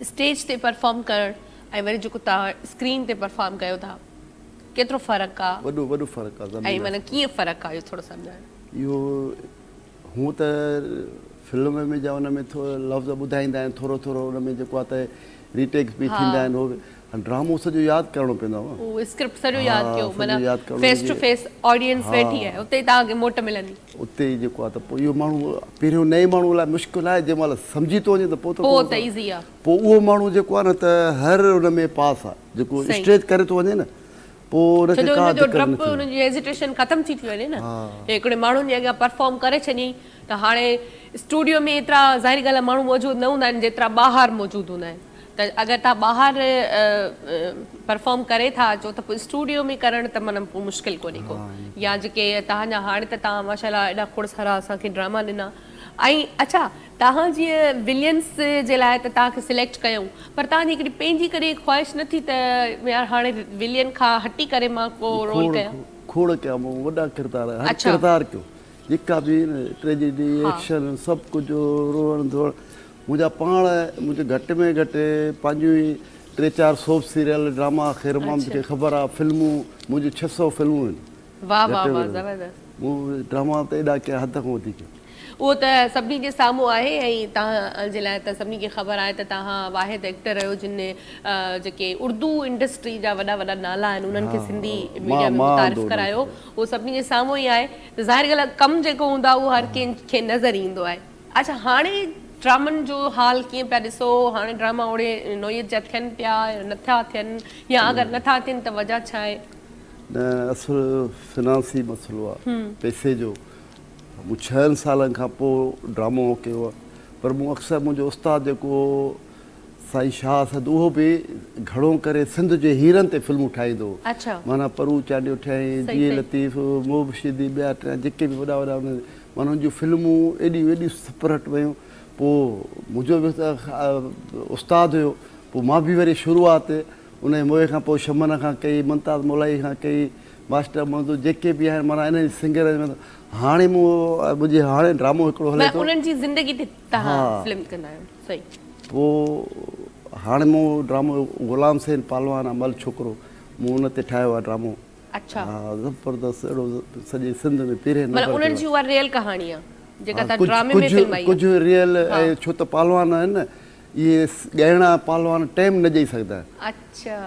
Stage تي perform ڪرڻ ۽ وري جيڪو توهان اسڪرين تي پرفارم ڪيو ٿا ڪيترو فرق آ وڏو وڏو فرق آ زمين آسمان ۽ معنيٰ ڪيئن فرق آ اهو ٿورو سمجهايو. اهو هونء ته فلم ۾ جا ان ۾ لفظ ٻڌائيندا آهن ٿورو ٿورو ان ۾ جيڪو آ ته ري ٽيڪس به ٿيندا آهن ڊرامو سڄو ياد ڪرڻو پوندو آهي اهو اسڪرپٽ سڄو ياد ڪيو معنيٰ فيس ٽو فيس آڊينس ويٺي آهي اتي توهان کي موٽ ملندي اتي جيڪو آهي ته پوء اهو ماڻهو پهريون نئين ماڻهو لاء مشڪل آهي جنهن مهل سمجهي ٿو وڃي ته پوء ته پوء ته ايزي آهي پوء اهو ماڻهو جيڪو آهي نه ته هر ان ۾ پاس آهي جيڪو اسٽريچ ڪري ٿو وڃي نه پوء ان کي ڪا دقت نه ٿي ان جي هيزيٽيشن ختم ٿي ٿي وڃي نه هڪڙي ماڻهن جي اڳيان پرفارم ڪري ڇڏيائين ته هاڻي اسٽوڊيو ۾ ايترا ظاهري ڳالهه آهي ماڻهو موجود نه هوندا آهن جيترا ٻاهر موجود هوندا آهن ته اگر تهان ٻاهر پرفارم ڪري ٿا اچو ته پوء اسٽوڊيو ۾ ڪرڻ ته معنيٰ پوء مشڪل ڪونهي ڪو يا جيڪي تهان جا هاڻي ته تهان ماشاء الله ايڏا کوڙ سارا اسان کي ڊراما ڏنا ۽ اڇا تهان جي ولينس جي لاء ته تهان کي سليڪٽ ڪيائون پر تهان جي هڪڙي پنهنجي ڪڏهن خواهش نه ٿي ته يار هاڻي ولين کان هٽي ڪري مان ڪو رول ڪيان. کوڙ ڪيا مون وڏا ڪردار هر ڪردار ڪيو جيڪا به ٽريجڊي ايڪشن سڀ ڪجهه روئڻ ڌوئڻ منهنجا پاڻ منهنجي گهٽ ۾ گهٽ پنهنجون ئي ٽي چار سوپ سيريل ڊراما خير امام جي کي خبر آ فلمون منهنجون ڇهه سؤ فلمون آهن واه واه واه زبردست مون ڊراما ته ايڏا ڪيا حد کان وڌيڪ اهو ته سڀني جي سامهون آهي ۽ توهان جي لاء ته سڀني کي خبر آهي ته توهان واحد ايڪٽر آهيو جن جيڪي اردو انڊسٽري جا وڏا وڏا نالا آهن انهن کي سنڌي ميڊيا ۾ متعارف ڪرايو اهو سڀني جي سامهون ئي آهي ته ظاهر ڳالهه آهي ڪم جيڪو هوندو آهي اهو هر ڪنهن کي نظر ايندو آهي اچا هاڻي ڊرامن جو حال ڪيئن پيا ڏسو هاڻي ڊراما اوڙي نوعيت جا ٿين پيا نٿا ٿين يا اگر نٿا ٿين ته وجه ڇا آهي. نه اصل فنانسي مسئلو آ پئسي جو مون ڇهن سالن کان پو ڊرامو ڪيو آ پر مون اڪثر منهنجو استاد جيڪو هو سائين شاهه اسد اهو به گهڻو ڪري سنڌ جي هيرن تي فلمون ٺاهيندو هو معنيٰ پرو چانڊيو ٺاهيائين جيئي لطيف محب شيدي ٻيا ٽيا جيڪي به وڏا وڏا انهن جون فلمون ايڏيون ويڏيون سپر هٽ ويون پوء منهنجو به استاد هيو پوء مان به وري شروعات ان جي موهي کان پوء شمن کان ڪئي ممتاز مولائي کان ڪئي ماسٽر محمد جيڪي به آهن معنيٰ انهن سنگر هاڻي مون منهنجي هاڻي ڊرامو هڪڙو هلي ٿو انهن جي زندگي تي توهان فلم ڪندا آهيو صحيح پوء هاڻي مون ڊرامو غلام حسين پالوان امل ڇوڪرو مون ان تي ٺاهيو آهي ڊرامو اڇا. ها زبردست اهڙو سڄي سنڌ ۾ پيرهين نمبر تي مطلب انهن جي اها ريئل ڪهاڻي آ جيڪا تهان ڊرامي ۾ فلم آئي آ ڪجهه ڪجهه ريئل ۽ ڇو ته پهلوان آهن نه اهي ڳائڻا پهلوان ٽيم نه ڏئي سگهندا آهن اڇا.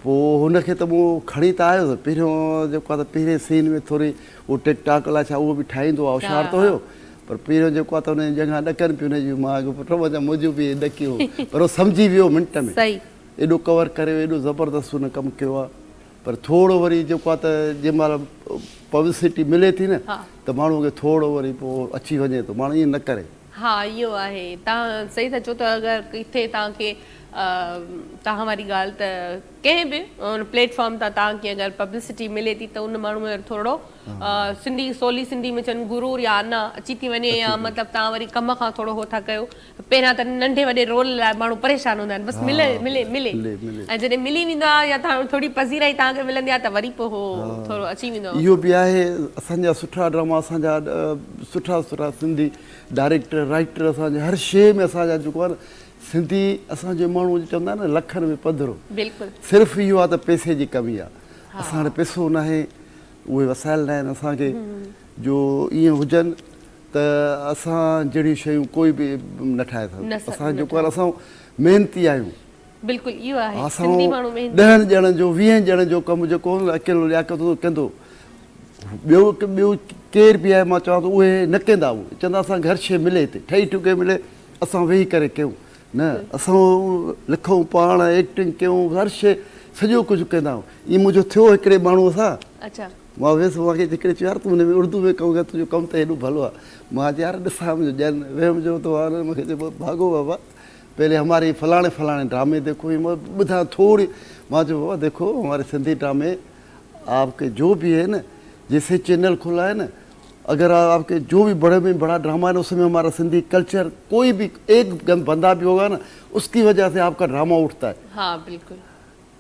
پوء هن کي ته مون کڻي ته آيس پهريون جيڪو آ ته پهرين سين ۾ ٿوري هو ٽڪ ٽاڪ الاء ڇا اهو به ٺاهيندو آ هوشيار ته هيو پر پهريون جيڪو آ ته هن جون ڄنگهان ڏڪن پيون هن جي مان اڳ پٽ مان چيم منهنجون به ڏڪيون پر هو سمجهي ويو منٽ ۾ ايڏو ڪور ڪري ويو ايڏو زبردست هن ڪم ڪيو آ. پر ٿورڙو وري جيڪو آ ته جنهن مهل پبلسٽي ملي ٿي نه ته ماڻهو کي ٿورڙو وري پوء اچي وڃي ٿو ماڻهو ائين نه ڪري. ها اهو آهي تهان صحيح ٿا چئو ته اگر ڪٿي تهان کي تهان واري ڳالهه ته ڪنهن به ان پليٽ فارم تان تهان کي اگر پبلسٽي ملي ٿي ته ان ماڻهو ۾ ٿورڙو سنڌي سولي سنڌي ۾ چون غرور يا انا اچي ٿي وڃي يا مطلب تهان وري ڪم کان ٿورڙو هو ٿا ڪيو پهريان ته ننڍي وڏي رول لاء ماڻهو پريشان هوندا آهن بس ملي ملي ملي ۽ جڏهن ملي ويندو آهي يا ٿوري پذيرائي تان کي ملندي آهي ته وري پوء هو ٿورو اچي ويندو آهي. اهو به آهي اسان جا سٺا ڊراما اسان جا سٺا سٺا سنڌي ڊائريڪٽر رائيٽر اسان جا هر شيء ۾ اسان جا جيڪو آهي نه سنڌي اسان جو ماڻهو چوندا آهن نه لکن ۾ پڌرو صرف اهو آهي ته پئسي جي ڪمي آهي اسان وٽ پئسو ناهي اهي وسائل ناهن اسان کي جو ائين هجن ته اسان جهڙيون شيون ڪوئي به نه ٺاهي سگهندو. اسان جيڪو آهي اسان محنتي آهيون. بلڪل اهو آهي سنڌي ماڻهو محنتي. ڏهن ڄڻن جو ويهن ڄڻن جو ڪم جيڪو هوندو آهي اڪيلو لياقت هوندو ڪندو. ٻيو ٻيو ڪير به آهي مان چوان ٿو اهي نه ڪندا اهو چوندا اسانکي هر شيء ملي هتي ٺهي ٺڪي ملي اسان ويهي ڪري ڪيون نه اسان لکون پاڻ ايڪٽنگ ڪيون هر شيء سڄو ڪجهه ڪندا آهيون ايئن منهنجو ٿيو هڪڙي ماڻهوء سان مان ويس مون کي جيڪڏهن چيو يار تون هن ۾ اردو ۾ ڪم ڪر تنهنجو ڪم ته هيڏو ڀلو آهي مان چيو يار ڏسان منهنجو ڄن وهم جو ته هن مون کي چيو ڀاڳو بابا پهلي هماري فلاڻي فلاڻي ڊرامي ديکو هي مان ٻڌان ٿوري مان چيو بابا ديکو هماري سنڌي ڊرامي آپ کي جو به هي نه جيسي چينل کلا هي نه اگر آپ کي جو به بڙي ۾ بڙا ڊراما نه اس ۾ همارا سنڌي ڪلچر ڪوئي به ايڪ بندا به هوگا نه اس ڪي وجه سي آپ ڪا ڊراما اٺتا هي ها بلڪل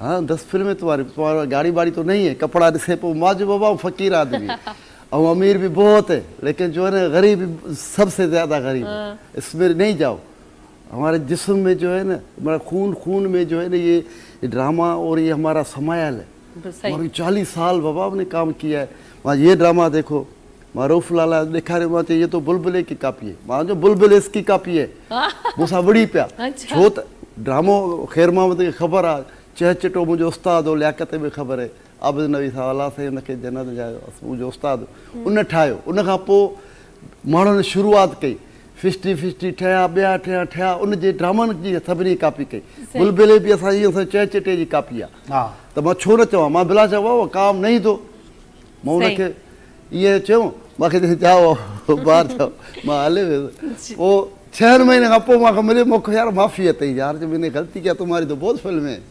هان دس پھر مين تمھاري تمھارا گاڙي باڙي تو نھين هي ڪپڙا ڏسي پو مان چيو بابا فقير آدمي ائون امير به بهت هي ليڪن جو هي نه غريب سب سي زياده غريب هي اس مير نھين جائو هماري جسم مين جو هي نه منا خون خون مين جو هي نه يه ڊراما اور يه همارا سمايل هي چاليس سال بابا اپني ڪام ڪيا هي مان چيو يه ڊراما ديکو مان رئوف لالا ڏيکاريو مان چيو يھ تو بلبلي ڪي ڪاپي ھي مان چيو بلبلي اس ڪي ڪاپي ھي مون سان وڙھي پيا ڇو تھ ڊرامو خير محمد کي خبر آ چهه چٽو منھنجو استاد ھو لياقت کي بھ خبر ھي عابد نويس ھا الله سائين ھن کي جنت جاء بخشي منھنجو استاد ھو ان ٺاھيو ان کان پوء ماڻھن شروعات ڪئي فسٽي فسٽي ٺھيا ٻيا ٺھيا ٺھيا ان جي ڊرامن جي سڀني ڪاپي ڪئي بلبلي بھ اسان جي اسان چهه چٽي جي ڪاپي آ تھ مان ڇو نھ چوان مان بلا شڪ ھو ڪام نھي دو مان ان کي ائين چيو، مان کي چيائين جاء ٻاهر جاء، مان هلي ويس. پوء ڇهن مهينن کان پوء مان کي ملي، مون کيس يار معافي اٿئي يار، جو مين نه غلطي ڪيا تمهاري تو بوت فلمين.